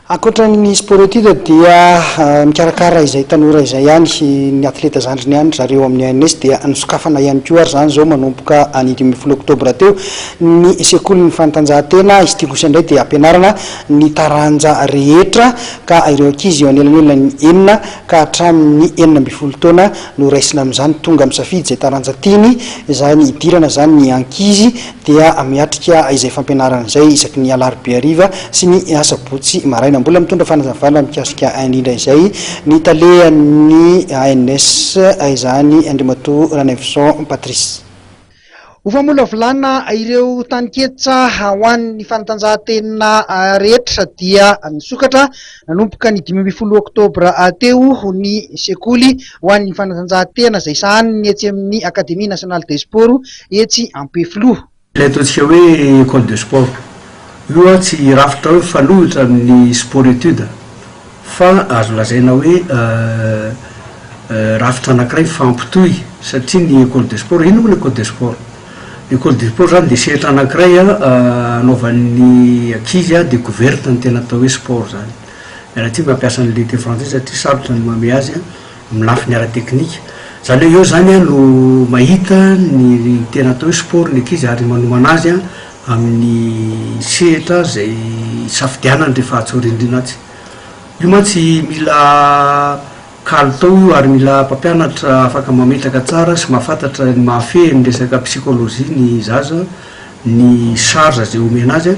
Ankoatra ny Sport-Études dia mikarakara izay tanora izay ihany ny athleta zandriny ihany ry zareo amin'ny ANS dia nosokafana ihany koa ary izany izao manomboka ny dimy ambin'ny folo oktobra teo ny sekolin'ny fanatanjahantena, izy ity kosa indray dia ampianarana ny taranja rehetra ka ireo ankizy eo anelanelan'ny enina ka hatramin'ny enina ambin'ny folo taona no raisina amin'izany, tonga misafidy izay taranja tiany, izany hidirana izany ny ankizy. dia miatrika izay fampianarana izay isaky ny alarobia hariva sy ny asabotsy maraina. Mbola mitondra fanazavana mikasika indrindra izay ny talehan'ny ANS izany, Andriamatoa Ranaivoson Patrice. Ho famolavolana ireo taninketsa ho an'ny fanatanjahantena rehetra dia nisokatra Nanomboka ny dimy ambin'ny folo oktobra teo ny sekoly ho an'ny fanatanjahantena izay sahaniny etsy amin'ny Académie Nationale des Sports etsy Ampefiloha. Ilay ataontsika hoe Ecole de Sport io tsy rafitra hoe mifanohitra amin'ny Sport Études fa azo lazaina hoe rafitra anankiray mifampitohy satria ny Ecole de Sport, inona moa ny Ecole de Sport? Ny code du sport zany dia sehatra anakiray anaovan'ny ankizy découverte ny tena atao hoe sport zany. Mianatsy mampiasa ny lutte française satria sarotra ny mamehy azy amin'ny lafiny ara teknika. Zany hoe eo zany no mahita ny tena atao hoe sport ny ankizy ary manomana azy amin'ny sehatra izay isafidianany rehefa atsy aoriandriana atsy. Io mantsy mila Kalitao io ary mila mpampianatra afaka mametraka tsara sy mahafantatra ny mahafehy ny resaka psychologie ny zaza, ny charge izay omena azy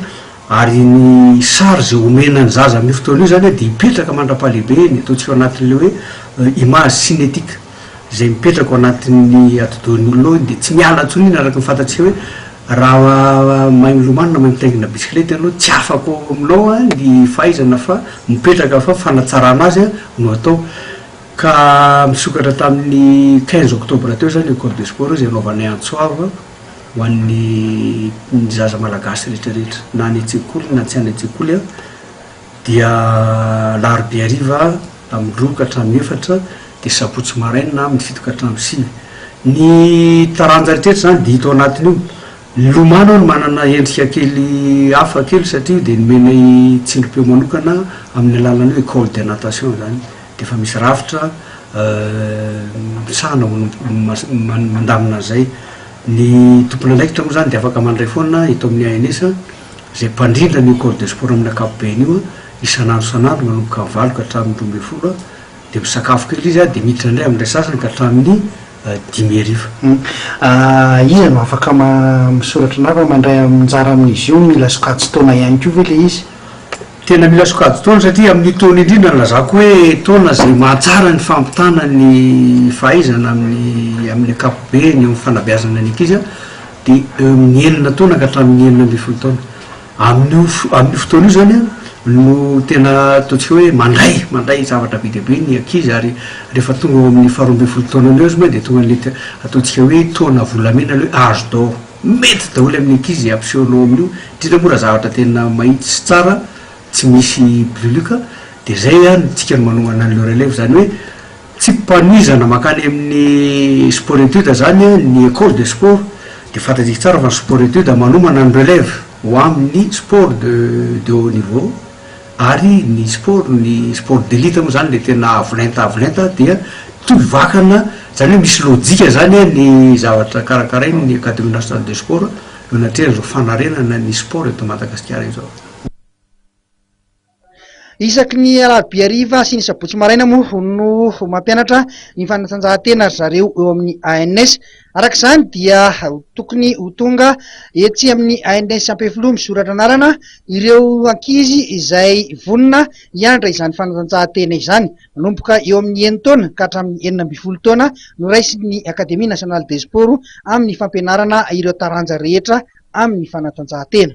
ary ny charge omena ny zaza amin'io fotoana io izany dia hipetraka mandra-pahalehibeny, ataontsika ao anatin'ilay hoe image cinétique izay mipetraka ao anatin'ny atidohan'ny olona ao iny dia tsy miala intsony iny araka ny fantatsika hoe Raha mahay milomano na mahay mitaingina bisikileta ianao, tsy afaka ao aminao ny fahaizana fa mipetraka fa fanatsarana azy no atao. Ka misokatra tamin'ny quinze octobre teo izany Ecole de sport izay anaovanay antso avo ho an'ny zaza malagasy rehetra rehetra na any an-tsekoly na tsy any an-tsekoly. dia alarobia hariva amin'ny roa ka hatramin'ny efatra, dia sabotsy maraina amin'ny fito ka hatramin'ny sivy. Ny taranja rehetra izany dia hita ao anatin'io. Ny lomano hono manana endrika kely hafa kely satria io dia nomenay tsindrim-peo manokana amin'ny alalan'ny hoe école de natation izany, dia efa misy rafitra misahana hono mandamina an'izay. Ny tompon'andraikitra moa izany dia afaka mandray foana eto amin'ny ANS. izay mpandrindra an'io Corps de Sport amin'ny ankapobeny io, isan'andro isan'andro manomboka amin'ny valo ka hatramin'ny roa ambin'ny folo, dia misakafo kely izy dia miditra indray amin'ilay sasany ka hatramin'ny dimy hariva. Iza no afaka misoratra na fa mandray anjara amin'izy io? Mila sokajin-taona ihany koa ve ilay izy? Tena mila sokajin-taona satria amin'io taona indrindra nilazako hoe taona izay mahatsara ny fampitana ny fahaizana amin'ny amin'ny ankapobeny eo amin'ny fanabeazana ny ankizy. dia eo amin'ny enina taona ka hatramin'ny enina ambin'ny folo taona. Amin'io amin'io fotoana io izany an, no tena ataontsika hoe mandray mandray zavatra be dia be ny ankizy ary rehefa tonga eo amin'ny faharoa ambin'ny folo taonany eo izy moa dia tonga an'ilay te- ataontsika hoe taona volamena, ilay hoe âge d'or. Mety daholo amin'ny ankizy izay ampisehoanao amin'io, indrindra moa raha zavatra tena mahitsy sy tsara, tsy misy buluc, dia izay an, isika no manohana an'ilay relève, izany hoe, Tsipanohizana mankany amin'ny sport étude izany ny école de sport dia fantatsika tsara fa ny sport étude manomana ny relève ho amin'ny sport de de haut niveau ary ny sport ny sport d'élite moa izany ilay tena avo lenta avo lenta dia toby vakana izany hoe misy lojika izany ny zavatra karakarain'ny académie nationale de sport eo anatrehan'izao fanarenana ny sport eto Madagasikara izao. Isaky ny alarobia hariva sy ny sabotsy maraina moa no mampianatra ny fanatanjahantena ry zareo eo amin'ny ANS. Araka izany dia tokony ho tonga etsy amin'ny ANS Ampefiloha misoratra anarana ireo ankizy izay vonona hianatra izany fanatanjahantena izany. Manomboka eo amin'ny enin-taona ka hatramin'ny enina ambin'ny folo taona no raisin'ny Académie Nationale des Sports amin'ny fampianarana ireo taranja rehetra amin'ny fanatanjahantena.